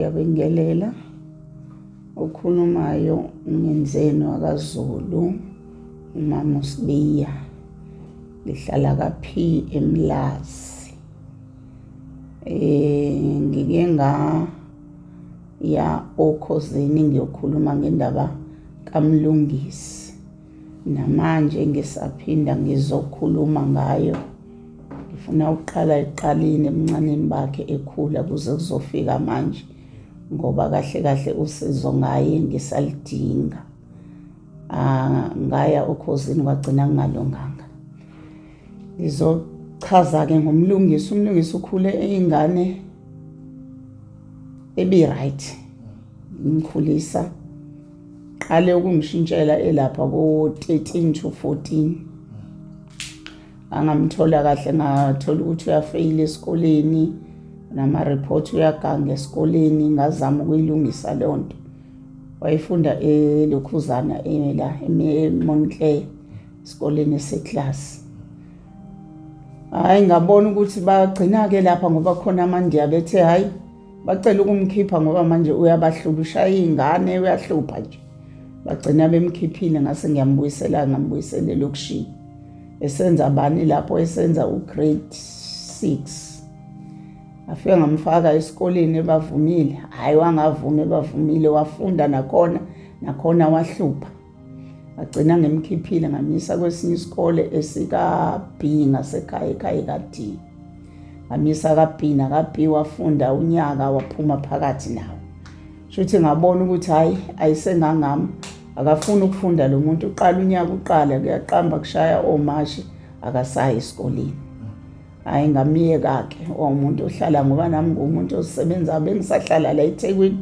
Ngiyabingelela okhulumayo umenzeni wakaZulu umama uSibiya ngihlala kaphi eMlazi eh ngike nga ya okhozini ngiyokhuluma ngendaba kaMlungisi namanje ngisaphinda ngizokhuluma ngayo ngifuna ukuqala eqalini ebuncaneni bakhe ekhula kuze kuzofika manje ngoba kahle kahle usizo ngaye ngisalidinga ah, ngaya okhozini kwagcina kungalunganga ngizochaza-ke ngomlungisi umlungisi ukhule eyingane ebi-right ngimkhulisa qale ukungishintshela elapha ko-13 to 14 angamthola kahle ngathola ukuthi uyafeyila esikoleni nama-report uyaganga esikoleni ngazama ukuyilungisa leyo nto wayefunda elokhuzana la emontle esikoleni eseklasi hhayi ngabona ukuthi bagcina-ke lapha ngoba khona amandiya bethe hhayi bacela ukumkhipha ngoba manje uyabahlula ushaya iy'ngane uyahlupha nje bagcina bemkhiphile ngase ngiyambuyisela ngambuyisela elokishini esenza bani lapho esenza ugrade six afike ngamfaka esikoleni ebavumile hhayi wangavumi ebavumile wafunda nakhona nakhona wahlupha ngagcina ngimkhiphile ngamyisa kwesinye isikole esika-b ngasekhaya ekhaya eka-d ngamyisa ka-b naka-b wafunda unyaka waphuma phakathi nawo shuthi ngabona ukuthi hhayi ayisengangami akafuni ukufunda lo muntu uqala unyaka uqala kuyaqamba kushaya omashi akasayi esikoleni hayi ngamyeka-ke wawumuntu ohlala ngoba nami ngumuntu osebenza bengisahlala la ethekwini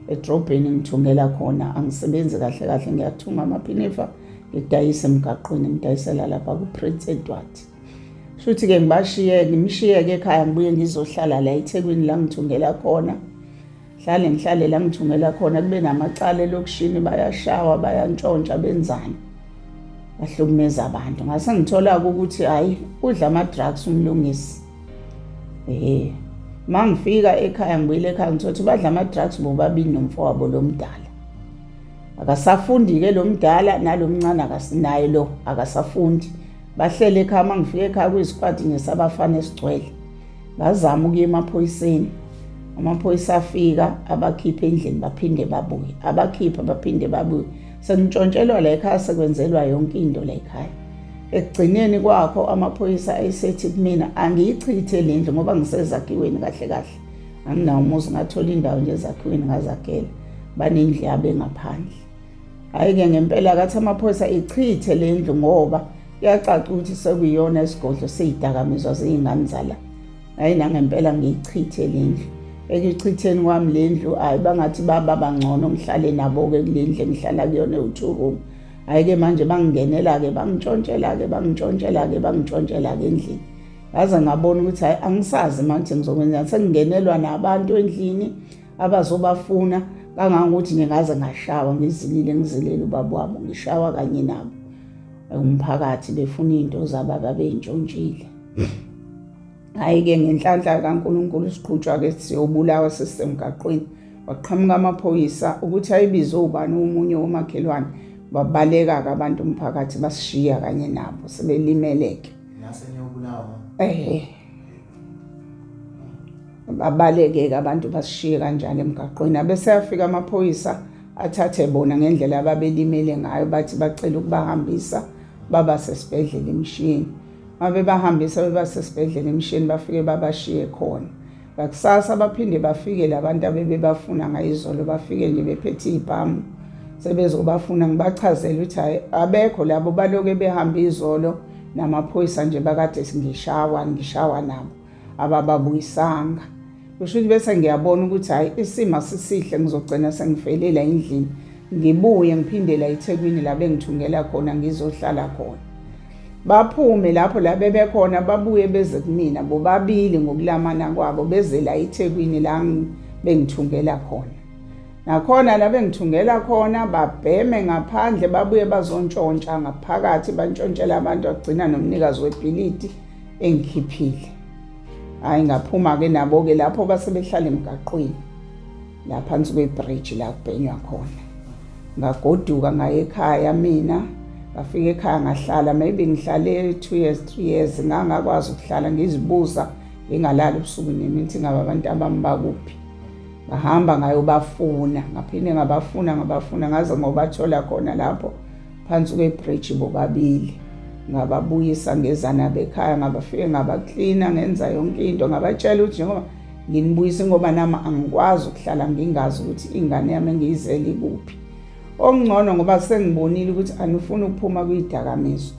edrobheni ngithungela khona angisebenzi kahle kahle ngiyathunga amaphinifa ngidayise emgaqweni ngidayisela lapha ku-prince edward shuthi-ke ngibashiye ngimshiye-ke ekhaya ngibuye ngizohlala la ethekwini la ngithungela khona hlale ngihlale la ngithungela khona kube namacala elokishini bayashawa bayantshontsha benzani bahlukumeza abantu ngase ngithola-ke ukuthi hhayi udla ama-drugs umlungisi ehe ma ngifika ekhaya ngibuyile ekhaya ngithola ukuthi badla ama-drugs bobabili nomfowabo lo mdala akasafundi-ke lo mdala nalo mncane akasinaye lo akasafundi bahlele ekhaya ma ngifika ekhaya kuyisikwadi nje sabafana esigcwele ngazama ukuya emaphoyiseni amaphoyisa afika abakhiphe endlini baphinde babuye abakhipha baphinde babuye sengintshontshelwa la ekhaya sekwenzelwa yonke into la ekhaya ekugcineni kwakho amaphoyisa ayisethi kumina angiyichithe le ndlu ngoba ngisezakhiweni kahle kahle anginawo umuzi ngathola indawo nje ezakhiweni ngazakhela banendlu yabo engaphandle Hhayi-ke ngempela kathi amaphoyisa ichithe le ndlu ngoba kuyacaca ukuthi sekuyiyona isigodlo seyidakamizwa zey'ngane zala hhayi nangempela ngiyichithe le ndlu ekuchitheni kwami le ndlu hhayi bangathi baba bangcono ngihlale nabo-ke kule ndlu engihlala kuyona ewu-two room hhayi-ke manje bangingenela-ke bangitshontshela-ke bangitshontshela-ke bangitshontshela-ke endlini ngaze ngabona ukuthi hhayi angisazi manje ngizokwenzani sengingenelwa nabantu endlini abazobafuna kangangokuthi ngingaze ngashawa ngizilile ngizelele ubaba wabo ngishawa kanye nabo umphakathi befuna izinto zabo ababentshontshile hhayi-ke ngenhlanhla kankulunkulu siqhutshwa-ke siyobulawa sisemgaqweni waqhamuka amaphoyisa ukuthi ayibize ubani omunye womakhelwane babaleka-ke abantu umphakathi basishiya kanye nabo sebelimeleke naseniyobulawa ehe babaleke-ke abantu basishiye kanjani emgaqweni abeseyafika amaphoyisa athathe bona ngendlela ababelimele ngayo bathi bacela ukubahambisa baba sesibhedlela emshini mabebahambisa beba sesibhedlela emshini bafike babashiye khona ngakusasa baphinde bafike labantu abebebafuna ngayizolo bafike nje bephethe iy'bhamu sebezobafuna ngibachazele ukuthi hayi abekho labo baloke behambe izolo namaphoyisa nje bakade ngishawa ngishawa nabo abababuyisanga kusho ukuthi bese ngiyabona ukuthi hhayi isimo asisihle ngizogcina sengifelela endlini ngibuye ngiphindela ethekwini la bengithungela khona ngizohlala khona baphume lapho la bebekhona babuye beze kumina bobabili ngokulamana kwabo bezela ethekwini la bengithungela khona nakhona nabengithungela khona babheme ngaphandle babuye bazontshontsha ngaphakathi bantshontshela abantu agcina nomnikazi webhilidi engikhiphile hhayi ngaphuma-ke nabo-ke lapho base behlala emgaqweni la phansi kwebhriji la kubhenywa khona ngagoduka ngaye ekhaya mina ngafika ekhaya ngahlala maybe ngihlale two years three years ngangakwazi ukuhlala ngizibuza ngingalali ubusuku nemini ukuthi ngabe abantu abami bakuphi ngahamba ngayobafuna ngaphinde ngabafuna ngabafuna ngaze ngobathola khona lapho phansi kwebridge bobabili ngababuyisa ngezana bekhaya ngabafike ngabaklina ngenza yonke into ngabatshela ukuthi njengoba nginibuyisa ngoba nami angikwazi ukuhlala ngingazi ukuthi ingane yami engiyizele ikuphi okungcono ngoba sengibonile ukuthi anifuni ukuphuma kuyidakamizwa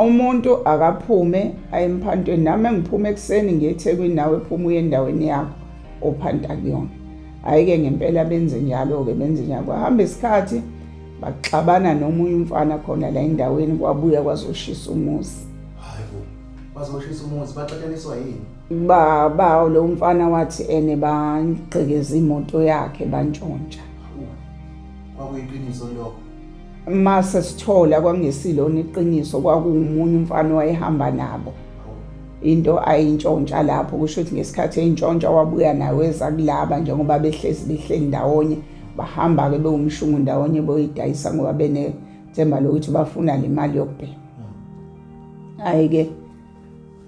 umuntu akaphume ayemphantweni nami engiphume ekuseni ngiyethekwini nawe phuma uye endaweni yakho ophanta kuyona hhayi-ke ngempela benze njalo-ke benze njalo kwahamba isikhathi baxabana nomunye umfana khona la endaweni kwabuya kwazoshisa umuzi bazoshisa umuzi baxataniswa yini baba lo mfana wathi ene bangqekeza imoto yakhe bantshontsha kwakuyiqiniso lokho mase sithola kwangesilona iqiniso kwakuwumunye umfana owayehamba nabo into ayintshontsha lapho kusho ukuthi ngesikhathi eyintshontsha wabuya nayo eza kulaba njengoba behlezi behleli ndawonye bahamba-ke bewumshungu ndawonye boyidayisa ngoba benethemba lokuthi bafuna le mali yokubhema hhayi-ke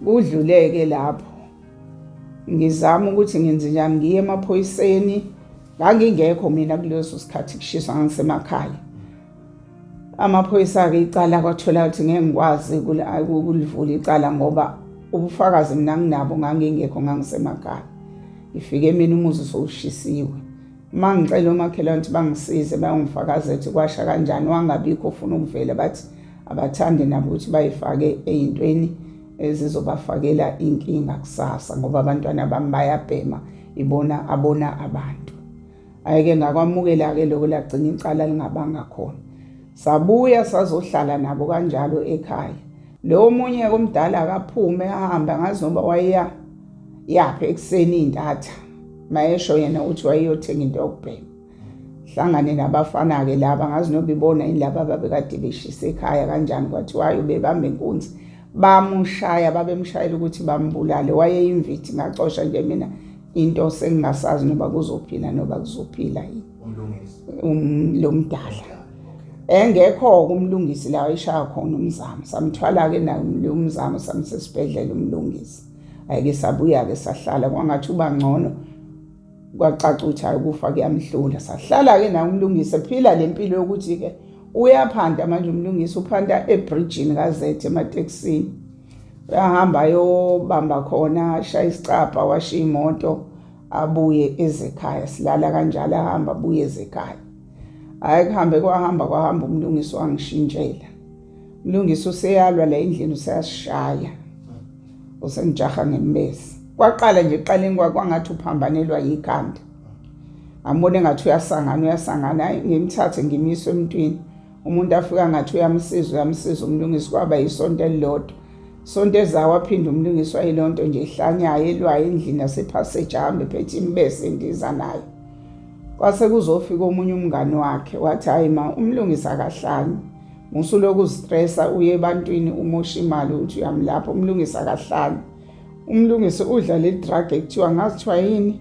kudluleke lapho ngizama ukuthi ngenze njani ngiye emaphoyiseni ngangingekho mina kuleso sikhathi kushiswa ngisemakhaya amaphoyisa-ke icala kwathola ukuthi ngeke ngikwazi ukulivula icala ngoba ubufakazi mina nginabo ngangingekho ngangisemakhaya ngifike mina umuzi sowushisiwe uma ngicela omakhelwane ukuthi bangisize bayongifakaza ukuthi kwasha kanjani wangabikho ufuna ukuvela bathi abathandi nabo ukuthi bayifake ey'ntweni ezizobafakela inkinga kusasa ngoba abantwana bami bayabhema ibona abona abantu ayike ngakwamukela-ke lokho lagcina icala lingabanga khona sabuya sazohlala nabo kanjalo ekhaya lowo munye komdala akaphume ahambe angazi noba wayeya yaphi ekuseni iy'ntatha mayesho yena ukuthi wayeyothenga into yokubheka hlangane nabafana-ke laba ngazi noba ibona yini laba babekade beshisa ekhaya kanjani kwathiwayo bebambe inkunzi bamushaya babemshayela ukuthi bambulale wayeyimvithi ngacosha nje mina into sengingasazi noba kuzophila noba kuzophila yini um, lo mdala engekho-ke umlungisi la wayishaya khona umzamo samthwala-ke naye umzamo samsesibhedlela umlungisi ayike sabuya-ke sahlala kwangathi uba ngcono kwacaca ukuthi hayi ukufa kuyamhlula sahlala-ke naye umlungisi ephila le mpilo yokuthi-ke uyaphanda manje umlungisi uphanda ebrijini kazethe ematekisini uyahamba ayobamba khona ashaya isicabha washa iy'moto abuye ezekhaya silala kanjalo ahamba abuye ezekhaya hhayi kuhambe kwahamba kwahamba umlungisi wangishintshela umlungisi useyalwa la endlini useyasishaya usengijaha ngembezi kwaqala nje ekuqaleni kwangathi uphambanelwa yikhanda ngambona engathi uyasangana uyasangana hayi ngimthathe ngimiswe emntwini umuntu afika ngathi uyamsiza uyamsiza umlungisi kwaba yisonto elilodwa sonto ezawo aphinde umlungisi wayilonto nje ihlanyayo elwayo endlini yasephassage ahambe phethe imbese endiza nayo kwase kuzofika omunye umngani wakhe wathi hayi ma umlungisi akahlanye musuloku stressa uye ebantwini umosha imali uthi uyamlapha umlungisi akahlanye umlungisi udla le drug ekuthiwa ngazithiwa yini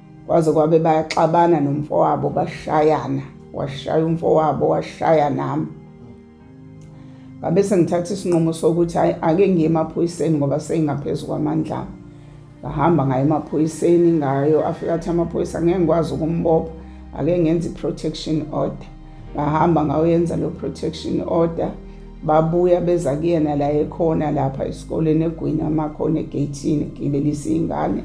kwaze kwabe bayaxabana nomfowabo bashayana washaya umfowabo washaya nami ngabe sengithatha isinqumo sokuthi hayi ake ngiye emaphoyiseni ngoba seyingaphezu kwamandla ami ngahamba ngayo emaphoyiseni ngayo afika athi amaphoyisa ngeke ngikwazi ukumbopha ake ngenza i-protection order ngahamba ngayoyenza lo protection order babuya beza kuyena la ekhona lapha esikoleni egwini amakhona egeyithini gibelisa iy'ngane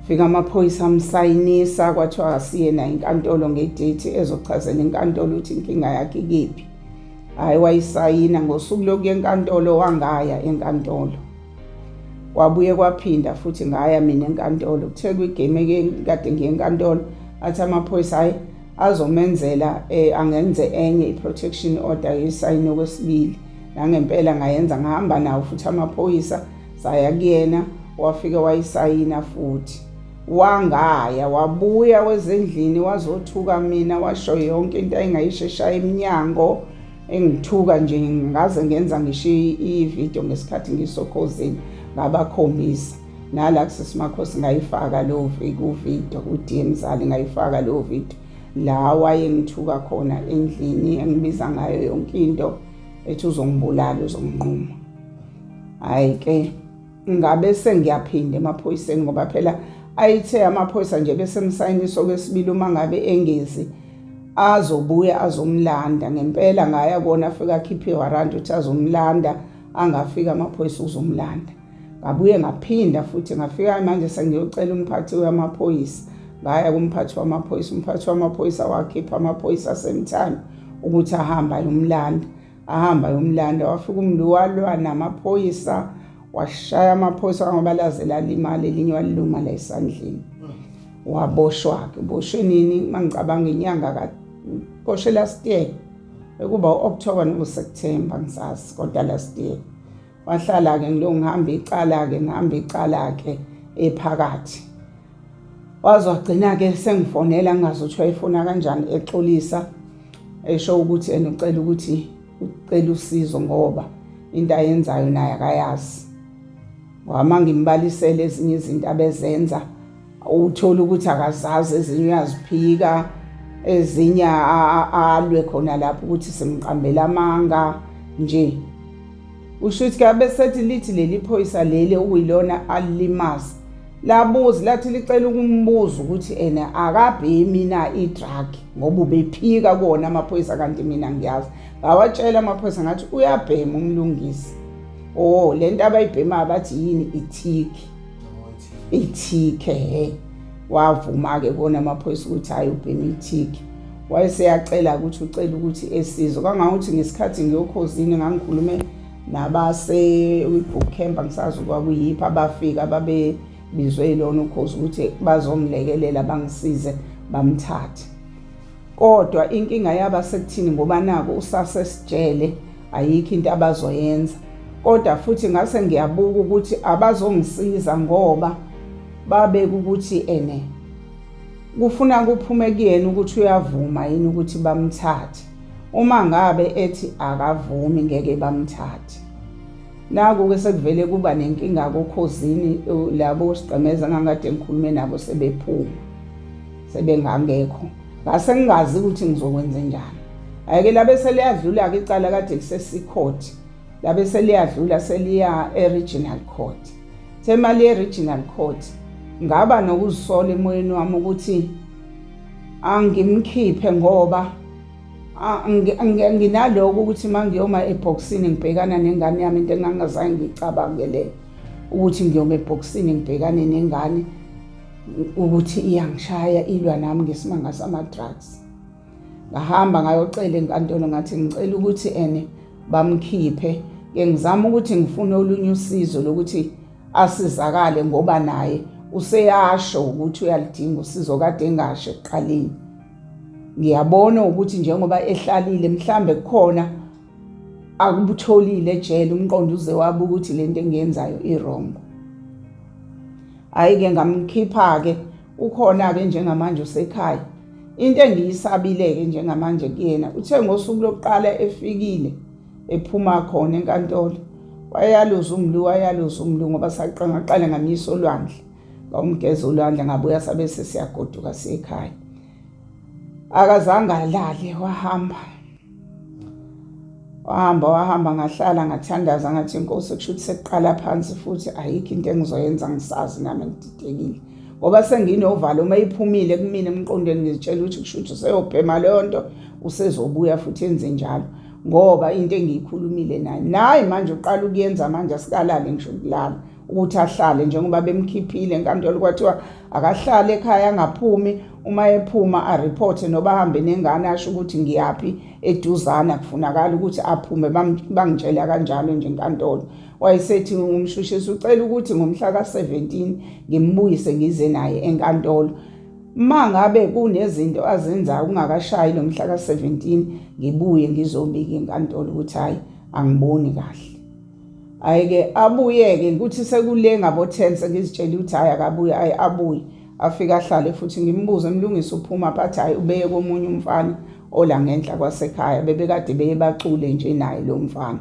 fika amaphoyisa amsayinisa kwathiwa asiyena inkantolo ngedate ezochazela inkantolo ukuthi inkinga yakhe ikephi hhayi wayisayina ngosuku lokuya enkantolo wangaya enkantolo kwabuye kwaphinda futhi ngaya mina enkantolo kuthe kwigame kade ngiye enkantolo athi amaphoyisa hhayi azomenzela um angenze enye i-protection order yesayini okwesibili nangempela ngayenza ngahamba nawo futhi amaphoyisa saya kuyena wafike wayisayina futhi wangaya wabuya wezendlini wazothuka mina washo yonke into ayingayisheshaya emnyango engithuka nje ngaze ngenza ngisho ivideo ngesikhathi ngisokhozini ngabakhombisa nala kusisimakhosi ngayifaka leyo kuvideo ku-dm zali ngayifaka leyo video la wayengithuka khona endlini engibiza ngayo yonke into ethi uzongibulala uzonginquma hayi ke ngabe sengiyaphinda emaphoyiseni ngoba phela ayithe amaphoyisa nje besemsayiniso kwesibili uma ngabe engezi azobuya azomlanda ngempela ngaya kona afika akhiphe warrant uthi azomlanda angafika amaphoyisa uzomlanda ngabuye ngaphinda futhi ngafika manje sengiyocela umphathi wamaphoyisa ngaya kumphathi wamaphoyisa umphathi wamaphoyisa wakhipha amaphoyisa asemthando ukuthi ahamba yomlanda ahamba yomlanda wafika umntu walwa namaphoyisa washaya amaphoyisa ngoba laze lalimali elinye waliluma la esandleni waboshwa-ke uboshwe nini uma ngicabanga inyanga kaboshwe last year ekuba u-october nokuseptemba ngisazi kodwa last year wahlala-ke ngilo ngihamba icala-ke ngihamba icala-ke ephakathi waze wagcina-ke sengifonela ngingazi ukuthi wayefuna kanjani exolisa esho ukuthi ena ucela ukuthi ucela usizo ngoba into ayenzayo naye akayazi wama ngimbalisele ezinye izinto abezenza Uthole ukuthi akazazi ezinye uyaziphika ezinye alwe khona lapho ukuthi simqambela amanga nje usho ukuthi kabe sethi lithi leli phoyisa leli okuyilona alilimazi labuzi lathi licela ukumbuza ukuthi ena akabhemi na i-drug ngoba ubephika kona amaphoyisa kanti mina ngiyazi ngawatshela amaphoyisa ngathi uyabhema umlungisi o oh, le nto abayibhemayo bathi yini ithiki ithike he wavuma-ke kona amaphoyisa ukuthi hhayi ubhema ithike wayeseyacela ukuthi ucela ukuthi esizwe kangangokuthi ngesikhathi ngiyokhozini ngangikhulume nabase-book camp angisazi kwakuyiphi abafika babebizwe yilona ukhozi ukuthi bazongilekelela bangisize bamthathe Kodwa inkinga yaba sekuthini ngoba naku usasesijele ayikho into abazoyenza. Kodwa futhi ngase ngiyabuka ukuthi abazongisiza ngoba babeka ukuthi ene kufuna kuphume kuyena ukuthi uyavuma yini ukuthi bamthathe. Uma ngabe ethi akavumi ngeke bamthathe. Naku ke sekuvele kuba nenkinga kokhozini labo sigqemeza ngangade ngikhulume nabo sebephuma. sebengangekho ngase ngingazi ukuthi ngizokwenze njani ayike labe seliyadlula-ke icala kade kusesicourt labe seliyadlula seliya e-regional court semali ye-regional court ngaba nokuzisola emoyeni wami ukuthi angimkhiphe ngoba nginaloko ukuthi uma ngiyoma ebhokisini ngibhekana nengane yami into engangazange ngiyicabangele ukuthi ngiyoma ebhokisini ngibhekane nengane ukuthi iyangishaya ilwa nami ngesimanga sama-drugs ngahamba ngayocela enkantolo ngathi ngicela ukuthi ene bamkhiphe ke ngizama ukuthi ngifune olunye usizo lokuthi asizakale ngoba naye useyasho ukuthi uyalidinga usizo kade engasho ekuqaleni ngiyabona ukuthi njengoba ehlalile mhlambe kukhona akubutholile ejele umqondo uze wabuka ukuthi le nto engiyenzayo irongo hhayi-ke ngamkhipha-ke ukhona-ke njengamanje usekhaya into engiyisabile-ke njengamanje kuyena uthe ngosuku lokuqala efikile ephuma khona enkantolo wayaluza umlu wayaluza umlu ngoba saqala ngamyisa olwandle ngawumgeza olwandle ngabuya sabe sesiyagoduka siyekhaya akazange alale wahamba wahamba wahamba ngahlala ngathandaza ngathi inkosi kusho ukuthi sekuqala phansi futhi ayikho into engizoyenza ngisazi nami ngididekile ngoba senginovalo uma iphumile kumina emqondweni ngizitshela ukuthi kusho ukuthi useyobhema leyo nto usezobuya futhi enze njalo ngoba into engiyikhulumile naye naye manje uqala ukuyenza manje asikalali ngisho ukulala ukuthi ahlale njengoba bemkhiphile enkantolo kwathiwa akahlale ekhaya angaphumi uma ephuma areporte noba ahambe nengane asho ukuthi ngiyaphi eduzana kufunakala ukuthi aphume bangitshela kanjalo nje enkantolo wayesethi umshushisi ucela ukuthi ngomhla ka-17 ngimbuyise ngize naye enkantolo ma ngabe kunezinto azenzayo kungakashayi lo mhla ka-17 ngibuye ngizobika inkantolo ukuthi hhayi angiboni kahle hayi ke abuyeke ukuthi sekule ngabo 10 sengizitshela ukuthi hayi akabuye hayi abuye afike ahlale futhi ngimbuze mlungisi uphuma phathi hayi ubeye komunye umfana ola ngenhla kwasekhaya bebekade beye bacule nje naye lo mfana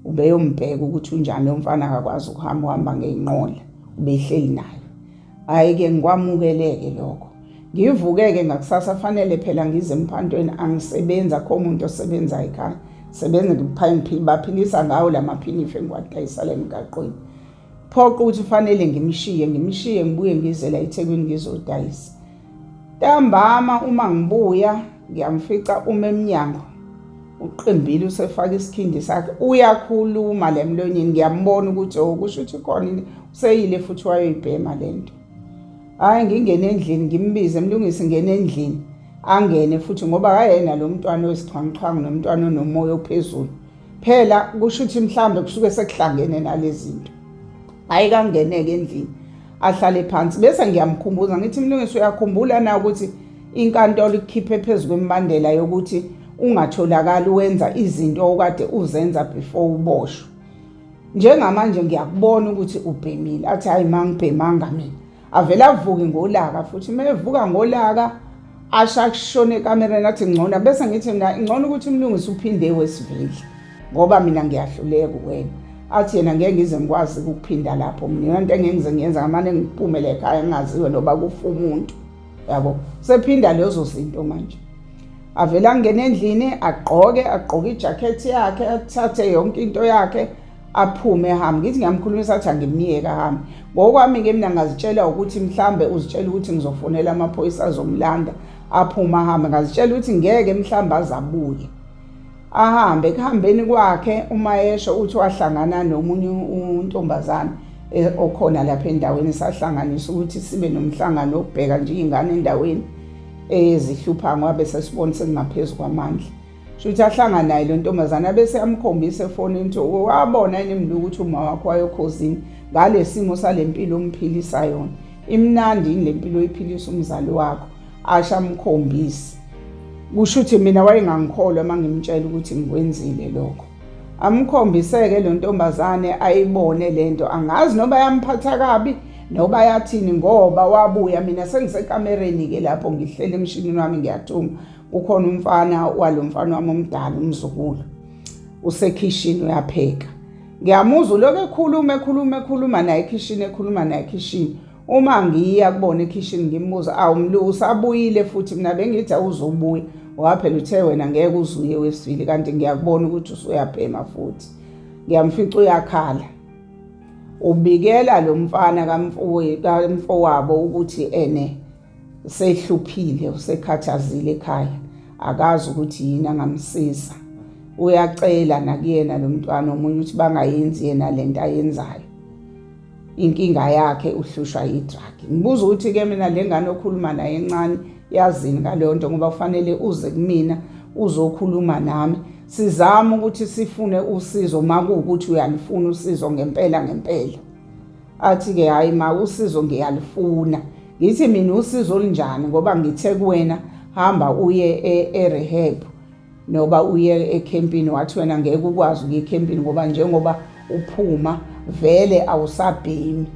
ubeyombheka ukuthi unjani lo mfana akakwazi ukuhamba uhamba ngeyinqola ubehleli naye Hhayi-ke ngikwamukeleke lokho. Ngivuke-ke ngakusasa fanele phela ngize emphantweni angisebenzi akho muntu osebenza ekhaya. Sebenza ngiphayiphili baphilisa ngawo la maphinife ngiwadayisala emgaqweni. Phoqa ukuthi fanele ngimshiye, ngimshiye ngibuye ngizela eThekwini ngizodayisa. Ntambama uma ngibuya ngiyamfica uma emnyango uqimbile usefaka isikhindi sakhe uyakhuluma le mlonyeni ngiyambona ukuthi o oh, kusho ukuthi khona useyile futhi wayoyibhema le nto hhayi ngingene endlini ngimbize mlungisi ngene endlini angene futhi ngoba kayena lo mntwana oyisixhwanguxhwangu nomntwana onomoya ophezulu phela kusho ukuthi mhlawumbe kusuke sekuhlangene nalezi zinto hhayi kangeneke endlini ahlale phansi bese ngiyamkhumbuza ngithi mlungisi uyakhumbula na ukuthi inkantolo ikukhiphe phezu kwembandela yokuthi ungatholakali wenza izinto okade uzenza before uboshwe njengamanje ngiyakubona ukuthi ubhemile athi hayi mangibhemanga mina avele avuke ngolaka futhi uma evuka ngolaka asho akushone ekamereni athi ngcono bese ngithi mina ngcono ukuthi umlungisi uphinde wesivile ngoba mina ngiyahluleka kuwena athi yena ngeke ngize ngikwazi ukuphinda lapho mina into engeke ngize ngiyenza ngamane ngiphumele ekhaya ngingaziwe noba kufa umuntu yabo sephinda lezo zinto manje avele angene endlini agqoke agqoke ijakhethi yakhe athathe yonke into yakhe aphume ehambe ngithi ngiyamkhulumisa athi angimyeke ahambe ngokwami-ke mina ngazitshela ukuthi mhlambe uzitshela ukuthi ngizofonela amaphoyisa azomlanda aphume ahambe ngazitshela ukuthi ngeke mhlambe azabuye ahambe ekuhambeni kwakhe uma esho uthi wahlangana nomunye untombazane eh, okhona lapha endaweni sahlanganisa ukuthi sibe nomhlangano wokubheka nje iy'ngane endaweni ezihlupha ngoba besesibona sengingaphezu kwamandla shuthi ahlanga naye lo ntombazana bese amkhombisa efonini ukuthi wabona yini mntu ukuthi uma wakho wayokhozini ngale simo sale mpilo omphilisa yona imnandi yini le mpilo oyiphilisa umzali wakho asho amkhombise kusho ukuthi mina wayengangikholwa uma ngimtshela ukuthi ngikwenzile lokho amkhombiseke lo ntombazane ayibone le nto angazi noba yamphatha kabi noba yathini ngoba wabuya mina sengisekamereni-ke lapho ngihlele emshinini wami ngiyathunga Ukhona umfana walo mfana wami omdala umzukulu usekhishini uyapheka ngiyamuzwa uloku ekhuluma ekhuluma ekhuluma naye ekhishini ekhuluma naye ekhishini uma ngiya kubona ekhishini ngimbuza awu mlu usabuyile futhi mina bengithi awuzobuya waphela uthe wena ngeke uzuye wesibili kanti ngiyakubona ukuthi usuyabhema futhi ngiyamfica uyakhala ubikela lo mfana kamfowabo ukuthi ene usehluphile usekhathazile ekhaya akazi ukuthi yini angamsiza uyacela nakuyena lo mntwana omunye ukuthi bangayenzi yena le nto ayenzayo inkinga yakhe uhlushwa yi-drug ngibuza ukuthi-ke mina le ngane okhuluma naye encane yazini ngaleyo nto ngoba kufanele uze kumina uzokhuluma nami sizama ukuthi sifune usizo uma kuwukuthi uyalifuna usizo ngempela ngempela athi-ke hhayi ma usizo ngiyalifuna ngithi mina usizo olunjani ngoba ngithe kuwena hamba uye e-rehab e noba uye ekhempini wathi wena ngeke ukwazi ukuya ekhempini ngoba njengoba uphuma vele awusabhemi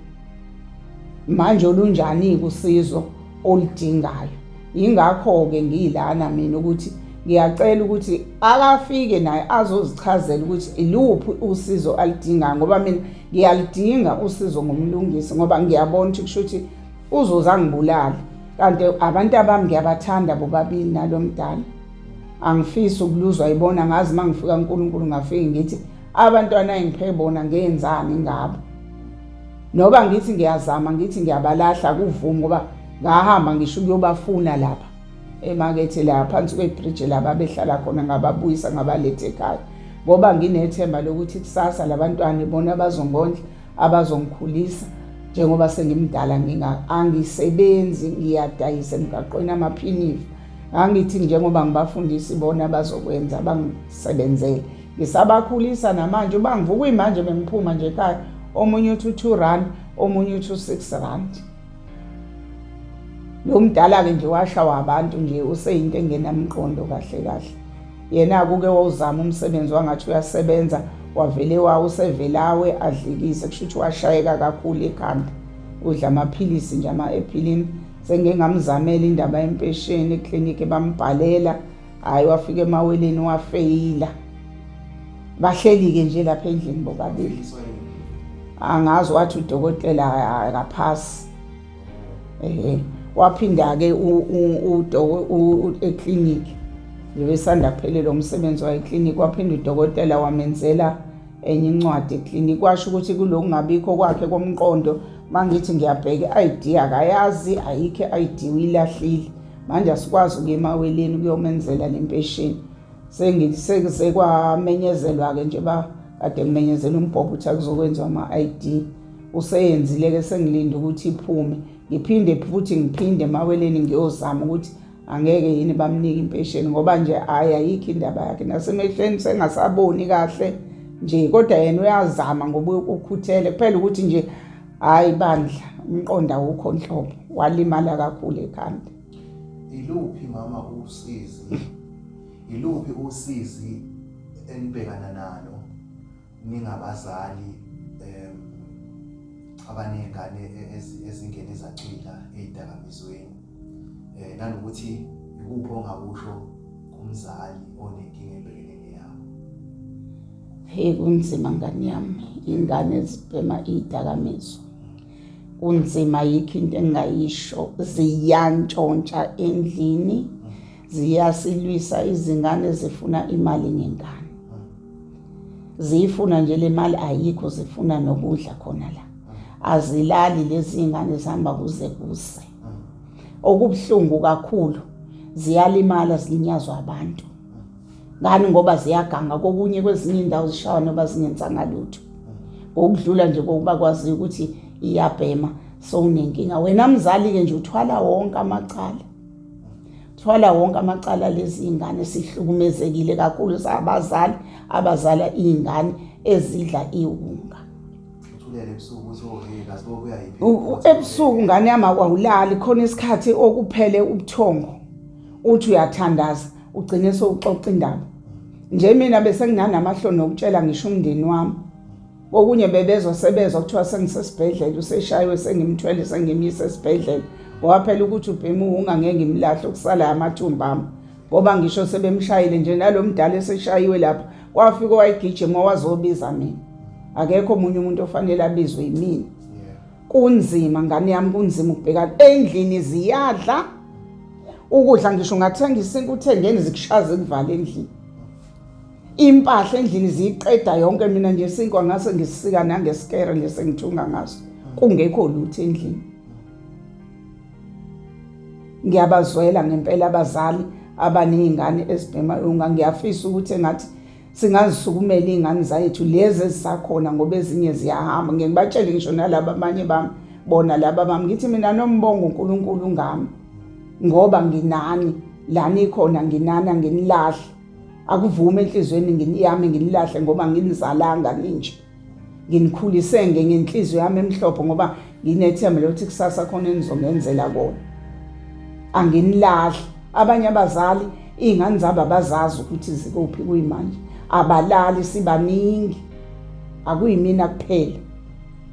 manje olunjani-ke usizo oludingayo Yingakho-ke ngiyilana mina ukuthi ngiyacela ukuthi akafike naye azozichazela ukuthi iluphi usizo alidinga ngoba mina ngiyalidinga usizo ngomlungisi ngoba ngiyabona ukuthi kusho ukuthi uzoze angibulale kanti abantu abami ngiyabathanda bobabili nalo mdala angifisi ukuluzwa yibona ngazi uma ngifika unkulunkulu ngafike ngithi abantwana engiphe bona ngenzani ngabo noba ngithi ngiyazama ngithi ngiyabalahla kuvumi ngoba ngahamba ngisho ukuyobafuna lapha emakethe la phansi kwebridge laba behlala khona ngababuyisa ngabalethe ekhaya ngoba nginethemba lokuthi kusasa labantwana ibona abazongondla abazongikhulisa njengoba sengimdala nginga angisebenzi ngiyadayisa emgaqweni amaphinifa angithi njengoba ngibafundisa ibona bazokwenza bangisebenzele ngisabakhulisa namanje uba ngivuka imanje bengiphuma nje ekhaya omunye uthi u-two rand omunye uthi u-six rand lo mdala-ke nje washawa abantu nje useyinto engenamqondo kahle kahle yena-ke uke wawuzama umsebenzi wangathi uyasebenza wavele wa usevelawe adlikise kusho ukuthi washayeka kakhulu ekhanda udla amaphilisi nje ama-ephilini sengengamzamela indaba yempesheni eklinikhi bambhalela hhayi wafika emaweleni wafeyila bahleli-ke nje lapha endlini bobabili angazi wathi udokotela akaphasi ehe waphinda-ke eclinic besanda kuphelelwa umsebenzi wayeclinic waphinda udokotela wamenzela enye incwadi eclinic washo ukuthi kulo kungabikho kwakhe komqondo mangithi ngiyabheka i-id akayazi ayikho i-id uyilahlile manje asikwazi ukuya emaweleni kuyomenzela le mpesheni sengise kwamenyezelwa-ke nje ba kade ngimenyezela umbhobho ukuthi akuzokwenziwa ama-id useyenzile-ke sengilinde ukuthi iphume ngiphinde futhi ngiphinde emaweleni ngiyozama ukuthi angeke yini bamnike impesheni ngoba nje hhayi ayikho indaba yakhe nasemehlweni sengasaboni kahle nje kodwa yena uyazama ngoba ukhuthele kuphela ukuthi nje Hayi bandla umqondo awukho nhlobo walimala kakhulu ekhanda. Iluphi mama usizi? Iluphi usizi enibhekana nalo ningabazali em abanezingane e-, ezingene zacwila ezidakamizweni? eh nanokuthi ikuphi ongakusho kumzali onenkinga ebhekene neyabo hey kunzima ngani yami ingane zibhema idakamizwa kunzima yikho into engayisho ziyantshontsha endlini ziyasilwisa izingane zifuna imali ngengane ziyifuna nje le mali ayikho zifuna nokudla khona la azilali lezi ngane zihamba kuze kuse okubuhlungu kakhulu ziyalimala zilinyazwa abantu ngani ngoba ziyaganga kokunye kwezinye indawo zishawa noba zingenzanga lutho ngokudlula nje kokuba kwaziyo ukuthi iyabhema sowunenkinga wena mzali-ke nje uthwala wonke amacala thwala wonke amacala lezi ingane sihlukumezekile kakhulu sabazali abazala iy'ngane ezidla iwunga ebusuku ngane yami awulali khona isikhathi okuphele ubuthongo uthi uyathandaza ugcine sowuxoxa indaba nje mina bese nginanamahloni okutshela ngisho umndeni wami okunye bebezwa sebezwa kuthiwa sengisesibhedlela useshaywe sengimthwele sengimyise esibhedlela ngoba phela ukuthi ubhema uwunga ngeke ngimlahle okusalayo amathumba ami ngoba ngisho sebemshayile nje nalo mdala eseshayiwe lapha wafika owayigijima wazobiza mina akekho omunye umuntu ofanele abizwe yimina kunzima ngane yami kunzima ukubhekana endlini ziyadla ukudla ngisho ungathenga isinto uthengeni zikushaza ekuvala endlini impahla endlini ziyiqeda yonke mina nje sinkwa ngase ngisisika nangesikere nje sengithunga ngaso kungekho lutho endlini ngiyabazwela ngempela abazali abanezingane ezibhema yonga ngiyafisa ukuthi engathi singazisukumela izingane zethu lezi ezisakhona ngoba ezinye ziyahamba ngeke batshele ngisho nalabo abanye bami bona laba bami ngithi mina nombongo uNkulunkulu ngami ngoba nginani lani ikhona nginana nginilahle akuvume enhlizweni ngiyami nginilahle ngoba nginizalanga ninje nginikhulise nge ngenhliziyo yami emhlophe ngoba nginethemba lokuthi kusasa khona enizongenzela kona anginilahli abanye abazali iy'ngane zabo abazazi ukuthi zikuphi kuyimanje abalali sibaningi akuyimina kuphela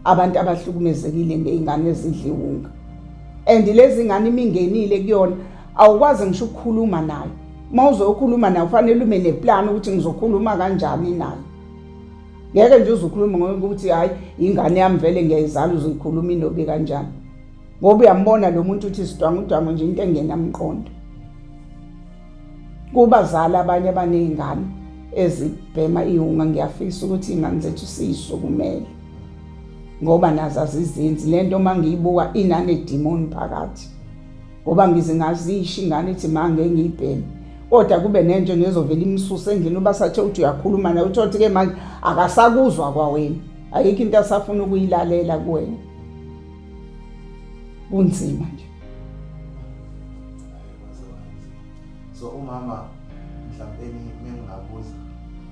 abantu abahlukumezekile ngey'ngane ezidliwunga and lezi ngane imingenile kuyona awukwazi ngisho ukukhuluma nayo uma uzokhuluma nayo kufanele ube neplani ukuthi ngizokhuluma kanjani nayo ngeke nje uzukhuluma ngokuthi hayi ingane yami vele ngiyayizala uzikhuluma indobi kanjani ngoba uyambona lo muntu uthi sidwangu udwangu nje into engenamqondo kubazali abanye abanezingane ezibhema iwunga ngiyafisa ukuthi ingane zethu siyisukumele ngoba nazo azizinzi lento uma ngiyibuka inanedimoni phakathi ngoba ngize ngazisho ingane ithi ma ngeke ngiyibheme kodwa kube nento nezovela imsuse endlini uba sathe uthi uyakhuluma naye uthi othi-ke manje akasakuzwa kwawena ayikho into asafuna ukuyilalela kuwena kunzima nje so umama mhlawumbe mengingabuza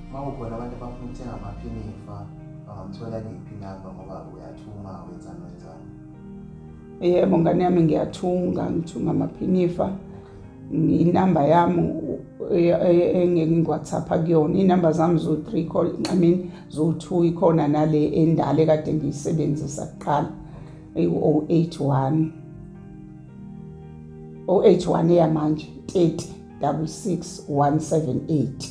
uma kukhona abantu abafuna ukuthenga amaphinifa bangamthola kephi namba ngoba uyathuma wenzani wenzani Yebo ngane yami ngiyathunga, ngithunga amaphinifa. Inamba yami engeke ngiwhatsapha kuyona iy'namba zami zo-three call i mean zo-two ikhona nale endala ekade ngiyisebenzisa kuqala ewu-o oh eight one o oh eight one eyamanje thirty double six one seven eight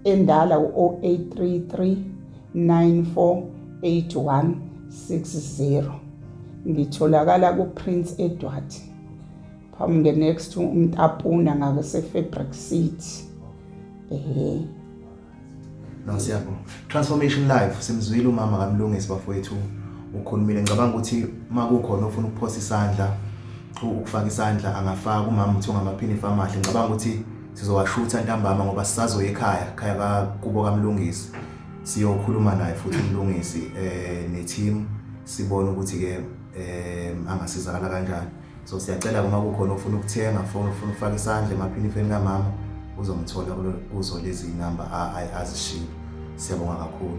endala u-o oh eight three three 948160 ngitholakala kuPrince Edward phambi nge next to umtapuna ngakuse fabric city eh no siyabo transformation life simzwile umama kamlungisi bafowethu ukhulumile ngicabanga ukuthi makukhona ofuna ukuphosa isandla ukufaka isandla angafaka umama uthi ungamaphini famahle ngicabanga ukuthi Sizowashutha ntambama ngoba sisazoya ekhaya, ekhaya kakubo kaMlungisi. Siyokhuluma naye futhi uMlungisi eh ne-team sibone ukuthi ke eh angasizakala kanjani. So siyacela uma kukhona ofuna ukuthenga, fona ufuna ukufaka isandla emaphinifeni kamama uzomthola kuzo lezi number azishilo. Siyabonga kakhulu.